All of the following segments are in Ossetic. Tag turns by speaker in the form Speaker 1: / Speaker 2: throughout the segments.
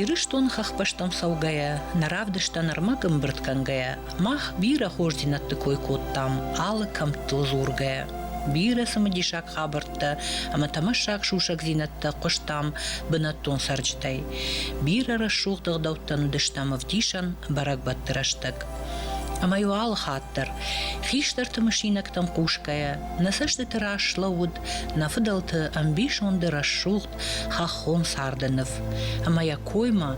Speaker 1: Ирыстон хӕхбӕстон цӕугӕйӕ, нӕ равдыстӕн ӕрмӕг ӕмбырд кӕнгӕйӕ, мах бирӕ хорздзинӕдты кой кодтам алы кӕмттыл дзургӕйӕ. Бирӕ цымыдисаг хабӕрттӕ ӕмӕ тӕмӕссаг сусӕгдзинӕдтӕ хъуыстам бынӕттон цӕрджытӕй. Бирӕ рӕсугъд ӕгъдӕуттӕн уыдыстӕм ӕвдисӕн бӕрӕгбӕтты рӕстӕг. Ӕмӕ-иу алы хатт дӕр, хистӕрты мысинӕгтӕм хъусгӕйӕ, нӕ цӕстыты раз слӕууыд Нӕ фыдӕлты ӕмбисонды рӕсугъд хӕххон царды ныв. Ӕмӕ йӕ коймӕ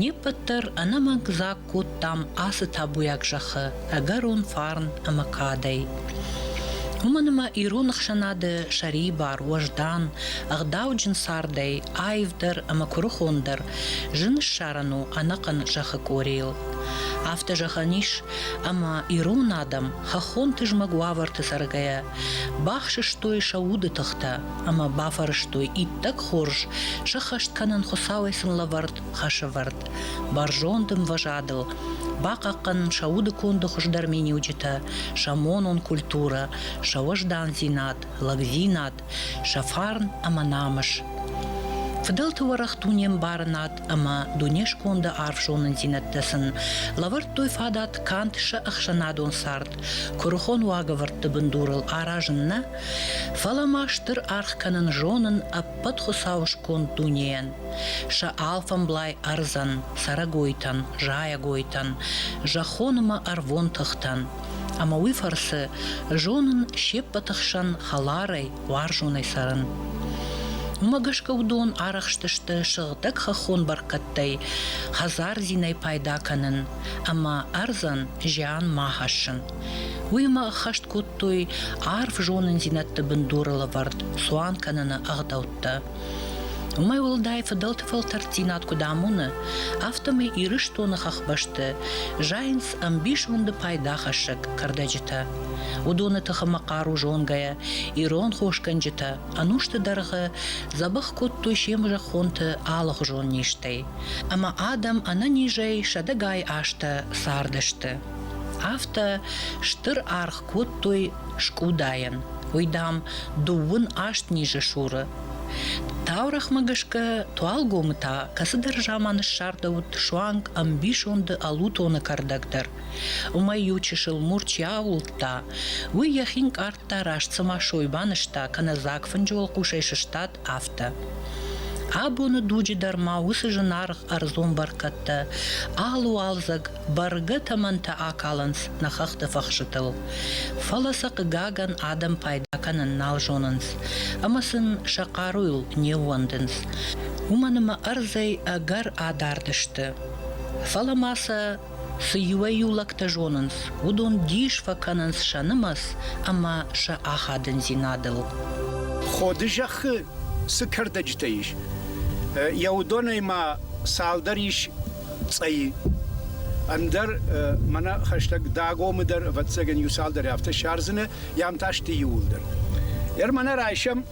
Speaker 1: не ппӕт дӕр ӕнӕмӕнг дзаг кодтам ацы табуйаг зӕххы ӕгӕрон фарн ӕмӕ кадӕй. Уымӕн ӕмӕ ирон ӕхсӕнады сӕрибар, уӕздан, ӕгъдауджын цардӕй аивдӕр ӕмӕ куырыхондӕр зын ссарӕн у ӕнӕхъӕн зӕххы къорийыл. Афтӕ зӕгъӕн ис, ӕмӕ ирон адӕм хӕххон тызмӕг уавӕрты цӕргӕйӕ Бахсыстой сӕ уды тыхтӕ ӕмӕ бафӕрӕзтой иттӕг хорз, сыххӕст кӕнын Хуыцауӕй сын лӕвӕрд хӕсӕвӕрд, бӕрзонд ӕмвӕзадыл, бахъахъхъӕнын сӕ удыконды хуыздӕр миниуджытӕ, сӕ монон культурӕ, сӕ уӕздандзинад, лӕгдзинад, сӕ фарн ӕмӕ намыс. Фыдӕлты уӕрӕх дунембарынад ӕмӕ дунесконды арф зонындзинӕдтӕ сын лӕвӕрдтой фадат канд сӕ ӕхсӕнадон цард, Куырыхон уагӕвӕрдты бындурыл аразын нӕ, фӕлӕ ма стыр аргъ кӕнын зонын ӕппӕт Хуыцауы сконд дунейӕн, сӕ алфӕмблай ӕрдзӕн, цӕрӕгойтӕн, зайӕгойтӕн, зӕххон ӕмӕ ӕрвон тыхтӕн. Ӕмӕ уый фӕрцы зонын се ппӕты хсӕн хӕларӕй, уарзонӕй цӕрын. Уымӕ гӕсгӕ уыдон арӕхстысты сыгъдӕг хӕххон бӕркӕдтӕй хӕдзардзинӕй пайда кӕнын, ӕмӕ ӕрдзӕн зиан ма хӕссын. Уыимӕ ӕххӕст кодтой арф зонындзинӕдты бындуры лӕвӕрд цуан кӕныны ӕгъдӕуттӕ. Уымӕй уӕлдай фыдӕлты фӕлтӕрддзинад куыд амоны, афтӕмӕй Ирыстоны хӕхбӕсты зайынц ӕмбисонды пайдахӕссӕг кӕрдӕджытӕ. Уыдоны тыхымӕ хъару зонгӕйӕ ирон хосгӕнджытӕ ӕнусты дӕргъы дзӕбӕх кодтой се мзӕххонты алыгъуызон низтӕй. ӕмӕ адӕм ӕнӕнизӕй сӕдӕгай азтӕ цардысты. Афтӕ стыр аргъ кодтой скъудайӕн, уый, дам, дыууын аст низы суры. Таурӕхмӕ гӕсгӕ Туалгомы та кӕцыдӕр заманы ссардӕуыд суанг ӕмбисонды ӕлутоны кӕрдӕг дӕр. Уымӕй иу чысыл мур чи аууылдта, уый йӕхи нкъардта раст цыма сой банызта, кӕнӕ дзаг фынджы уӕлхъусӕй сыстад, афтӕ. Абоны дуджы дӕр ма уыцы зынаргъ ӕрдзон бӕркӕдтӕ алуалдзӕг бӕргӕ тӕмӕнтӕ акалынц нӕ хӕхты фӕхсытыл. Фӕлӕ сӕ хъыгагӕн адӕм пайда кӕнын нал зонынц ӕмӕ сын сӕ хъаруйыл не ууӕндынц. Уымӕн ӕмӕ ӕрдзӕй ӕгӕр адард сты. Фӕлӕ ма сӕ Цы иуӕй-иу лӕгтӕ зонынц, уыдон дис фӕкӕнынц сӕ нымӕц ӕмӕ сӕ ахадындзинадыл. Ходы
Speaker 2: зӕххы цы кӕрдӕджытӕ ис, йӕ уыдонӕй ма цалдӕр ис цъӕйы. Ӕндӕр мӕнӕ хӕстӕг Дагомы дӕр, ӕвӕццӕгӕн, иу цалдӕр афтӕ сардзынӕ, йӕм та сты иууылдӕр. Дӕр мӕнӕ райсӕм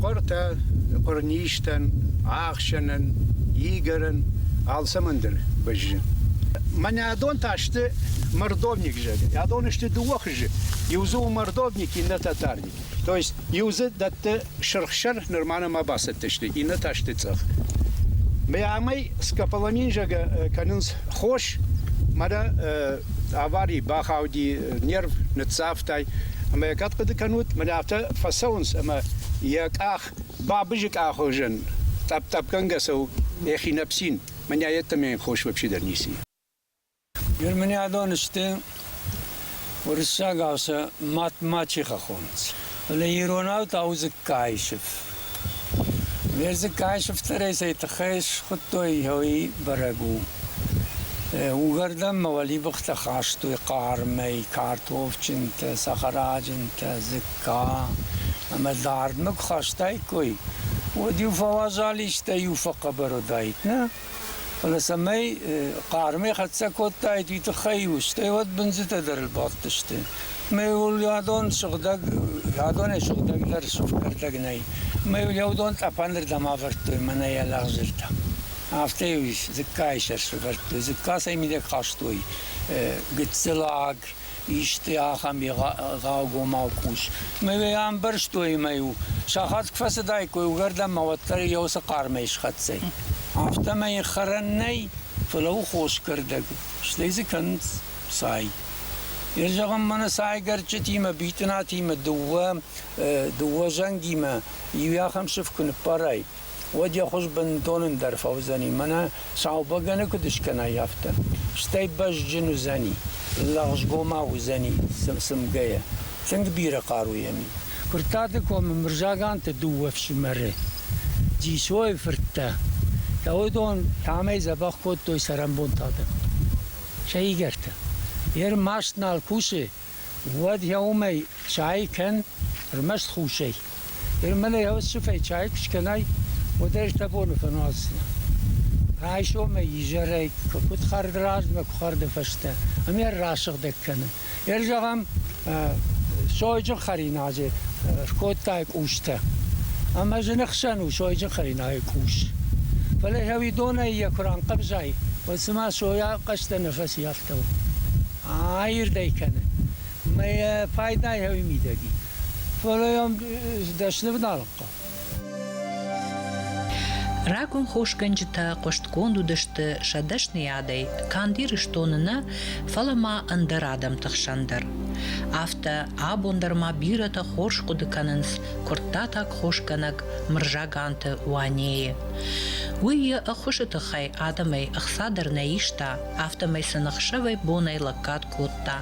Speaker 2: Хъуыртӕ, хъуырнистӕн, ӕхсӕнӕн, игӕрӕн алцӕмӕн дӕр бӕззы. Мӕнӕ адон та сты мордовник зӕгъы. Адон сты дыууӕ хызы. Иу дзы у мордовник, иннӕ татарник. То есть иу дзы дӕтты Сырхсӕр нырма нӕма бацӕттӕ сты, иннӕтӕ сты цъӕх. Бӕмӕй скополамин зӕгӕ кӕнынц хос, мадӕ авари бахауди, нерв ныццавтай, ӕмӕ йӕ кӕд хъуыды кӕнут, мӕнӕ афтӕ фӕцӕуынц, ӕмӕ йӕ къах бабызы къахуызӕн, тъӕпп-тъӕппгӕнгӕ цӕуы, йӕхи ныпсин, мӕнӕ йеддӕмӕ йын хос вообще дӕр ницы и.
Speaker 3: Германиадон сты уруссагау сӕ мӕтмӕ чи хӕхонынц, фӕлӕ иронау та у дзыккайы сыф. Ме дзыккайы сыфтӕрӕй цӕй тыххӕй схуыдтой, уый бӕрӕг у. Уыгӕрдӕнмӕ уӕлибыхтӕ хастой хъармӕй картофджынтӕ, сахараджынтӕ, дзыкка. Ӕмӕ дардмӕ куы хастаиккой, уӕд иу фӕуазал истӕй иу фӕхъӕбӕр уыдаид, нӕ? Фӕлӕ цӕмӕй хъармӕй хӕццӕ кодтаид, уый тыххӕй-иу стӕй уӕд бындзытӕ дӕр ӕрбадтысты. Ӕмӕ йыл адон сыгъдӕг, адонӕй сыгъдӕгдӕр кӕрдӕг нӕй. Ӕмӕ йыл йӕ уыдон тъӕпӕнырдӕм ӕвӕрдтой мӕнӕйӕ лӕгъзыртӕ. Афтӕ-иу дзыккайы сӕр сӕвӕрдтой. Дзыккасӕй мидӕг хастой гыццыл аг. исты ахӕм бегъӕугомау къус. Мӕ ӕмбӕрстой мӕ-иу сахат куы фӕцыдаиккой, уыгӕрдӕнмӕ уӕддӕр йӕ уыцы хъармӕй схӕццӕ. Афтӕмӕй хӕрӕн нӕй, фӕлӕ у хоскӕрдӕг, стӕй дзы кӕнынц цай. Йӕ зӕгъын мӕнӕ цайгӕрчытимӕ, битъынатимӕ, дыууӕ дыууӕ зӕнгимӕ иу ахӕм сыф куы ныппарай, уӕд йӕ хуыз бынтон ӕндӕр фӕуыдзӕни, мӕнӕ сау бӕгӕны куыд скӕнай, афтӕ. Стӕй бӕзджын уыдзӕни, лӕгъзгомау уыдзӕни цымгӕйӕ, тынг бирӕ хъаруйӕ ми. Куырттаты комы Мырзаганты дыууӕ фсымӕры, Дзисойы фырттӕ, сӕ уыдон амӕй дзӕбӕх кодтой цӕрӕнбонты адӕм, сӕ игӕртӕ. Йе рмӕст нал кусы, Уӕд йӕ уымӕй чайы кӕн, ӕрмӕст хъусӕй. Ермэлӕй ӕвӕссыфӕй чайы куы скӕнай, уӕд ӕз дӕ боны фӕнуадздзынӕн. Райсомӕй изӕрӕй куы хъӕрд размӕ, куы хъӕрды фӕстӕ, ами ӕррасыгъдӕг кӕнын. Ӕр зӕгъӕм, сойджын хӕринаджы скодтай къустӕ, ӕмӕ зыны хсӕн у сойджын хӕринайы къус. Фӕлӕ ӕви донӕй йӕ куы ранхъӕвзай, уӕд цыма сойӕ хъӕстӕ нӕ фӕци, афтӕ у. Аирдӕй кӕны ӕмӕ йӕ пайдайы хауы мидӕги. Фӕлӕ йӕм сдӕсны вналгъхъа.
Speaker 1: Рагон хосгӕнджытӕ хъуыстгонд уыдысты сӕ дӕсныйадӕй канд Ирыстоны нӕ, фӕлӕ ма ӕндӕр адӕмты хсӕн дӕр. Афтӕ абон дӕр ма бирӕтӕ хорз хъуыды кӕнынц куырттатаг хосгӕнӕг Мырзаганты Уанейы. Уый йӕ ӕххуысы тыххӕй адӕмӕй ӕхца дӕр нӕ иста, афтӕмӕй сын ӕхсӕвӕй бонӕй лӕггад кодта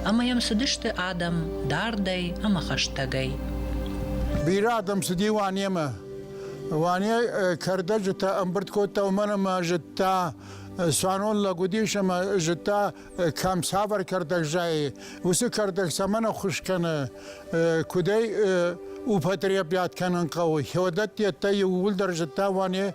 Speaker 1: ӕмӕ йӕм цыдысты адӕм дардӕй ӕмӕ хӕстӕгӕй.
Speaker 4: Бирӕ адӕм цыди Уанемӕ. Уане кӕрдӕджытӕ ӕмбырд кодта, уымӕн ӕмӕ зыдта, цуанон лӕг уыдис ӕмӕ зыдта, кӕм цавӕр кӕрдӕг зайы. Уыцы кӕрдӕг цӕмӕн ӕххуыс кӕны, куыдӕй употребят кӕнын хъӕуы. Хеодат йеддӕ иууылдӕр зыдта Уане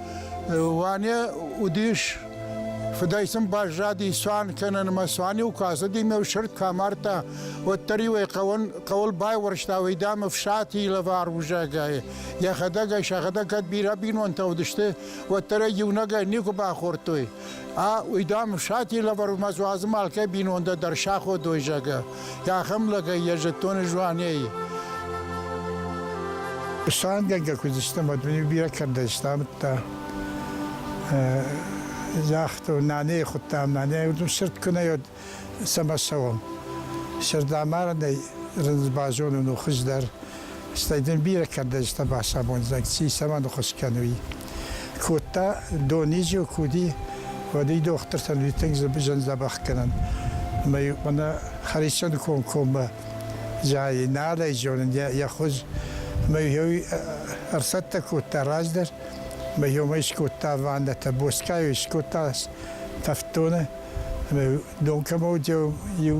Speaker 4: Ваня уыдис фыдӕй сын баззади цуан кӕнынмӕ. Цуан-иу куы ацыди ме сырд кӕм ардта, уӕддӕр-иу ӕй хъӕуын, хъӕуыл байуӕрста уӕйдам ӕфсати лӕвар узӕгӕй. Йӕхӕдӕг ӕй сӕхӕдӕг кӕд бирӕ бинонтӕ уыдысты, уӕддӕр ӕй иунӕгӕй никуы бахордтой. А уӕйдам ӕфсати лӕвар уымӕ дзуазым алкӕй бинонтӕ дӕр саходой, зӕгъы. Ахӕм лӕгӕй йӕ зӕдтоны жуанӕй
Speaker 5: Сангӕнгӕ куд истам, ӕд бирӕ кӕрдӕ истамдта. Загъту, наней худтам, наней удум сирдкунӕй од сӕмӕ цӕуӕм. Сирдамарынӕй рындз базонун у хуздӕр, стӕй дин бирӕ кӕрдӕджытӕ бацамондзӕг ци цӕмӕн хус кӕнуй. Кодта дони зил куди, уӕди дохтыртӕн уи тынг зӕндзӕбӕхгӕнӕн. Мӕй мӕнӕ Харисони комкоммӕ зайи, нал ӕй зонун йӕ хуз. Мӕ еуи ӕрцӕттӕ кодта раздӕр, мӕ еумӕ искодта ваннӕтӕ, боскайу искодта тӕфтдоны. Мӕ дон кӕмӕ уыди, еу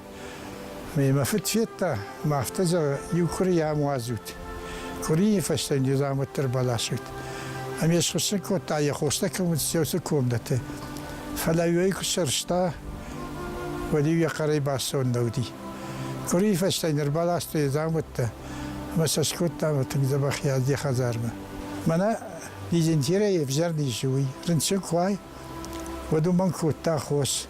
Speaker 5: Мемӕ фыд федта, мӕ афтӕ зӕгъы, иу хуыри ам уадзут. Хуырийы фӕстӕ незамутдӕр баласут. Ӕмӕ схуыссын кодта йӕ хостӕ кӕм уыд, уыцы комнӕты. Фӕлӕ уый куы сӕрста, уӕд-иу йӕ хъӕрӕй бацон нӕ уыди. Хуырийы фӕстӕ ныр баласта йӕ дзаумӕттӕ ӕмӕ сӕ скодта мӕ тынг дзӕбӕх йӕ йӕ хӕдзармӕ. Мӕнӕ дизентерӕй ӕвзӕр низ у, уый. Рынчын куы уай, уӕд уымӕн кодта хос.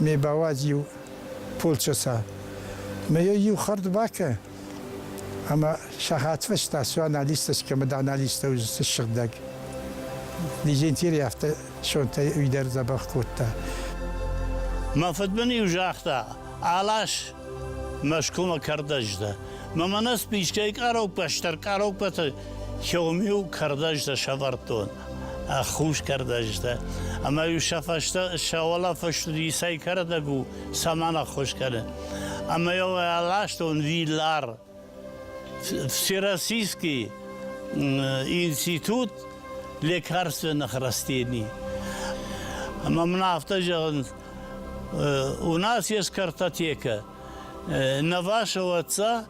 Speaker 5: ме бауадз иу полчъосӕ. Ме йӕ иу хӕрд бакӕ, ӕмӕ сахатфӕстӕ цуан алистас кӕмӕ дӕн, алистӕ уыдзысты сыгъдӕг. Дизентерий афтӕ сонтӕй уый дӕр дзӕбӕх кодта.
Speaker 6: Мӕ фыд мын-иу загъта, Алас Мӕскуымӕ кӕрдӕджы дӕ. Мӕ мӕнӕ спискӕйы къароппӕ стыр къароппӕты Хём-иу кӕрдӕджытӕ сӕвӕрдтон. ӕххускӕрд ӕзтӕ. Ӕма-иу сӕ фӕстӕ сӕ уӕлӕфӕстуд исӕй кӕрдӕг у сӕмӕн ӕххус кӕны. Ӕма-иу ӕластон виллар. Всероссийский институт лекарственных растений. Ӕма мын афтӕ зӕгъынт, у нас есть картотека. На вашего отца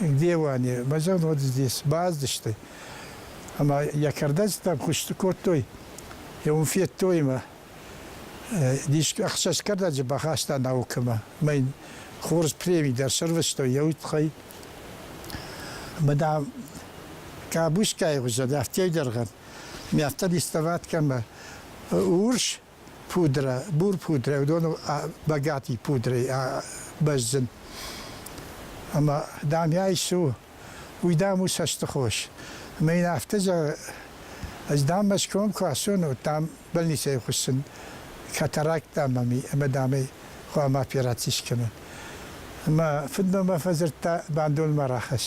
Speaker 5: Де Уане, базӕгъын уӕд здесь баздысты. Ӕмӕ йӕ кӕрдӕджытӕм хъуысты кодтой, йӕ уым федтоимӕ. Дис ӕхсӕз кӕрдӕджы бахаста наукӕмӕ. Мӕ йын хорз премий дӕр сӕрвыстой йӕ уд тыххӕй. Ӕмӕ, дам, Къабускайы хуызӕн, афтӕ дӕргъӕн, миӕттӕ диставаткӕмӕ урс пудрӕ, бурпудрӕ, уыдоныл багати пудрӕйы бӕззын. Ӕмӕ, дам, йӕ ис у, уый, дам, у цӕстыхос. Ӕмӕ йын афтӕ зӕгъы, ӕз, дам, Мӕскуымӕм куы ацон, уӕд, дам, больницӕйы хуыссын катаракттӕ ӕмӕ, дам, ӕй хъуамӕ операци скӕнон. Ӕмӕ фыдмӕ мӕ фӕдзырдта, бандонмӕ рахӕсс.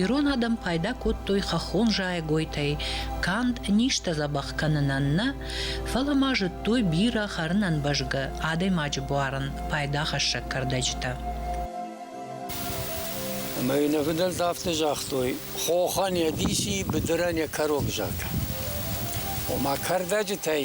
Speaker 1: Ирон адӕм пайда кодтой хӕххон зайӕгойтӕй канд низтӕ дзӕбӕх кӕнынӕн нӕ, фӕлӕ ма зыдтой бирӕ хӕрынӕн бӕзгӕ адӕймаджы буарын пайдахӕссӕг кӕрдӕджытӕ.
Speaker 3: Ӕмӕ йын ӕвдӕлд афтӕ загътой, хохӕн йӕ диси, быдырӕн йӕ кӕрог зӕгъ. Ома кӕрдӕджытӕй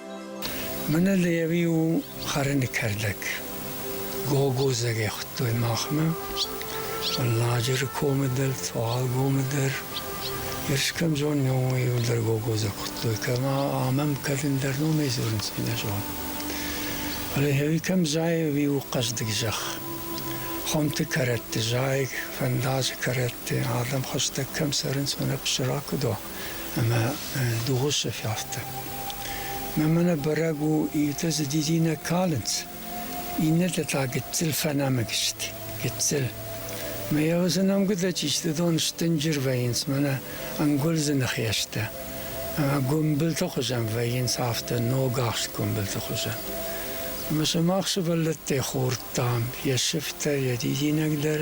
Speaker 3: Мӕнӕ Леви у хӕрыны кӕрдӕг. Гогозагӕй хуыдтой махмӕ. Ладжыры комы дӕр, Туалгомы дӕр. Ерс кӕм зонын, уый дӕр Гогозаг хуыдтой. Кӕмӕ амӕм кӕрын дӕр номӕй дзурынц, чи нӕ зоны. Фӕлӕ Леви кӕм зайы, уый у хъӕздыг зӕхх. Хуымты кӕрӕтты зайыг, фӕндаджы кӕрӕтты адӕм хӕстӕг кӕм цӕрынц, уымӕ псырак уыд. ӕма догъусӕ фӕфтӕ. Мӕмӕ бӕрӕг у, иутӕ дзы дидинӕг калынц, иннӕтӕ та гыццыл фӕнӕмыг сты. Гыццыл. Мӕ йӕвзы нӕмгуытӕ чистыдон стынджыр вӕййынц мӕнӕ ӕнгуылдзыны хӕстӕ. Ӕмӕ гуымбылты хуызӕн вӕййынц афтӕ ногахст гуымбылты хуызӕн. Ӕмӕ сымах сывӕллӕттӕй хордтам йӕ сыфтӕ, йӕ дидинӕг дӕр,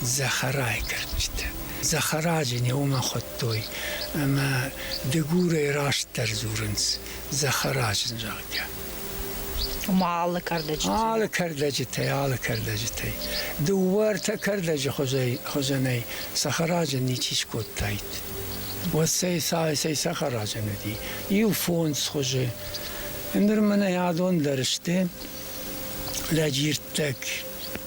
Speaker 3: Захарайгӕнджытӕ. Захараджы не уымӕ хуыдтой, ӕмӕ Дыгурӕй растдӕр дзурынц Захараджы, зӕгъгӕ.
Speaker 1: Ома алы кӕрдӕджытӕй? Алы кӕрдӕджытӕй, алы кӕрдӕджытӕй.
Speaker 3: Дыууӕ-ӕртӕ кӕрдӕджы хуызӕнӕй Сахараджы ничи скодтаид. Уӕд цӕй цӕй Сахараджын уыди? Иу фондз хуызы. Ныр мӕнӕ адон дӕр сты лӕджирттӕг.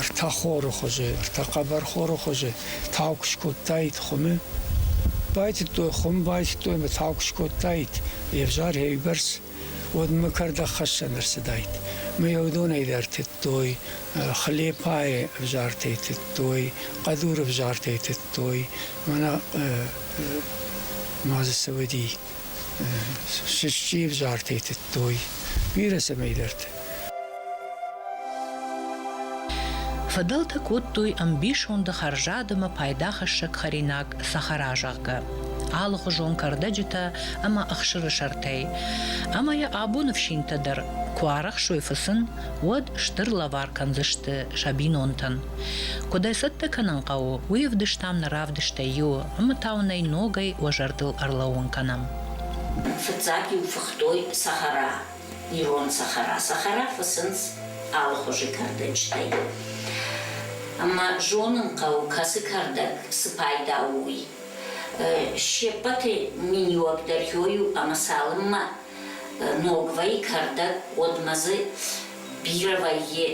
Speaker 3: ӕртӕ хоры хуызы, ӕртӕ хъӕбӕрхоры хуызы тау куы скодтаид хуымы, байтыдтой хуым, байтыдтой ӕмӕ тау куы скодтаид йе взӕр йӕбӕрц, уӕд мӕ кӕрдӕгхӕссӕн ӕрцыдаид. Мӕ йӕ уыдонӕй дӕр тыдтой, хлепайы ӕвзартӕй тыдтой, хъӕдуры ӕвзартӕй тыдтой, мӕнӕ ма дзы цы уыди. Сысчи ӕвзартӕй тыдтой, бирӕ цӕмӕйдӕрты.
Speaker 1: Фыдӕлтӕ кодтой ӕмбисонды хӕрзад ӕмӕ пайдахӕссӕг хӕринаг сахара, зӕгъгӕ, алыхуызон кӕрдӕджытӕ ӕмӕ ӕхсыры сӕртӕй. Ӕмӕ йӕ абоны фсинтӕ дӕр куы арӕхсой фыцын, уӕд стыр лӕвар кӕндзысты сӕ бинонтӕн. Куыд ӕй цӕттӕ кӕнын хъӕуы, уый ӕвдыстам нӕ равдыстӕй иу ӕмӕ та уын ӕй ногӕй уӕ зӕрдыл ӕрлӕууын кӕнӕм. Фыццаг
Speaker 7: иу фыхтой сахара, ирон сахара. Сахара фыцынц алыхуызы кӕрдӕджытӕй. Ӕмӕ зонын хъӕуы, кӕцы кӕрдӕг цы пайда у, уый. Се ппӕты миниуӕгдӕр иой у ӕмӕ цалынмӕ ног вӕййы кӕрдӕг, уӕдмӕ дзы бирӕ вӕййы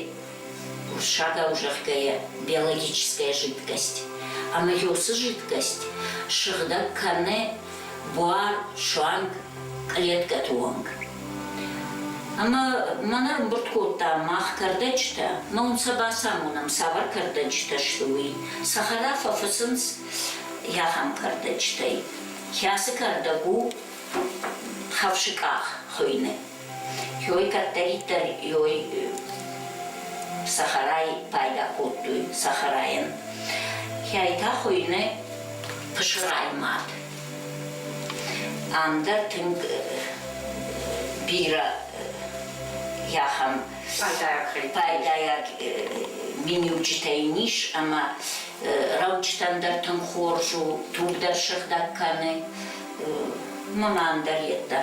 Speaker 7: Курсадау зӕгъгӕйӕ, биологическая жидкость ӕмӕ йосы жидкость сыгъдӕг кӕны буар, суанг клеткӕты онг. Ӕмӕ мӕн ӕрӕмбырд кодта мах кӕрдӕджытӕ, мӕн сӕ бацамонӕм, цавӕр кӕрдӕджытӕ сты, уый. Сӕ хӕрӕф фӕфыцынц ахӕм кӕрдӕджытӕй, кӕцы кӕрдӕг у хӕфсы къах хуыйны. Хёй кӕддӕриддӕр ёй сахарӕй пайда кодтой сахарайӕн. Хӕйтӕ хуыйны пысырай мад. Ам дӕр тынг бирӕ ахӕм пайдайаг миниуджытӕ йын ис ӕмӕ рӕуджытӕн дӕр тынг хорз у, туг дӕр сыгъдӕг кӕны. Маман дӕр йеддӕ.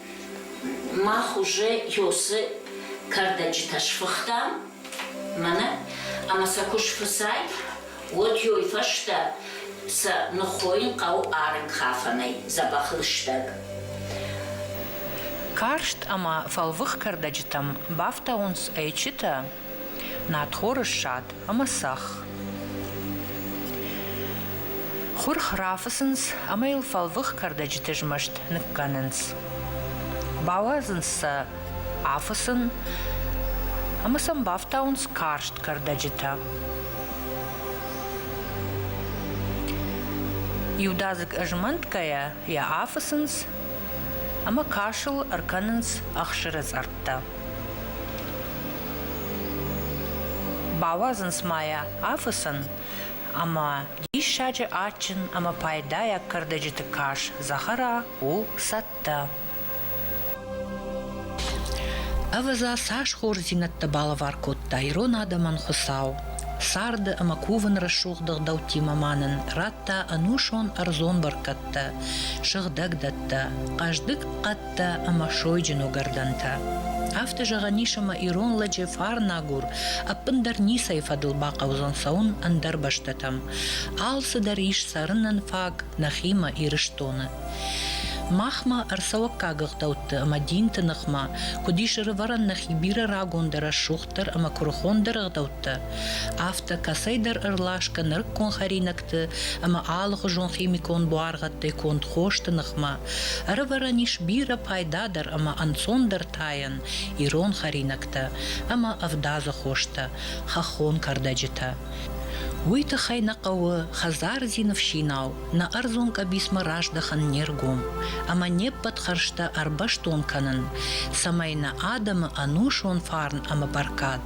Speaker 7: Мах уже ёсы кӕрдӕджытӕ сфыхтам мӕнӕ ӕмӕ сӕ куы сфыцай, уӕд ёй фӕстӕ сӕ ныххойын хъӕуы арык хафӕнӕй, дзӕбӕх лыстӕг.
Speaker 1: Карст ӕмӕ фӕлвых кӕрдӕджытӕм бафтауынц ӕйчытӕ. Надхоры ссад ӕмӕ цӕхх. Хурх рафыцынц ӕмӕ йыл фӕлвых кӕрдӕджыты змӕст ныккӕнынц. Бауадзынц сӕ афысын ӕмӕ сӕм бафтауынц карст кӕрдӕджытӕ. Иудадзыг ызмӕнтгӕйӕ йӕ афыцынц ӕмӕ касыл ӕркӕнынц ӕхсыры цъӕрттӕ. Бауадзынц ма йӕ афыцын ӕмӕ диссаджы адджын ӕмӕ пайдайаг кӕрдӕджыты карз Захара у цӕттӕ. Ӕвӕдза, цас хорздзинӕдтӕ балӕвар кодта ирон адӕмӕн Хуыцау. Царды ӕмӕ кувын рӕсугъд ӕгъдӕуттимӕ ма нын радта ӕнусон ӕрдзон бӕркӕдтӕ, сыгъдӕг дӕттӕ, хъӕздыг хъӕд уӕлхӕдтӕ ӕмӕ сойджын уыгӕрдӕнтӕ. Афтӕ зӕгъӕн ис ӕмӕ ирон лӕджы фарнагур ӕппындӕр ницӕй фӕдыл бахъӕудзӕн цӕуын ӕндӕр бӕстӕтӕм. Алцыдӕр ис цӕрынӕн фаг нӕхимӕ, Ирыстоны. Махмӕ, ӕрцӕуӕггаг ӕгъдӕутты ӕмӕ динты ныхмӕ, куыд ис ӕрывӕрӕн нӕхи бирӕ рагондӕр, рӕсугъддӕр ӕмӕ куырыхондӕр ӕгъдӕуттӕ, афтӕ кӕцӕйдӕр ӕрласгӕ нырыккон хӕринӕгтӕ фӕлгӕтты ӕмӕ алыхуызон химикон буаргъӕдтӕй конд хосты ныхмӕ, ӕрывӕрӕн ис бирӕ пайдадӕр ӕмӕ ӕнцондӕр тайӕн ирон хӕринӕгтӕ ӕмӕ ӕвдадзы хостӕ, хӕххон кӕрдӕджытӕ. Уый тыххӕй нӕ хъӕуы хӕдзардзин ӕфсинау нӕ ӕрдзон къӕбицмӕ раздӕхын не ргом ӕмӕ не ппӕт хӕрзтӕ ӕрбӕстон кӕнын, цӕмӕй нӕ адӕмы ӕнусон фарн ӕмӕ бӕркад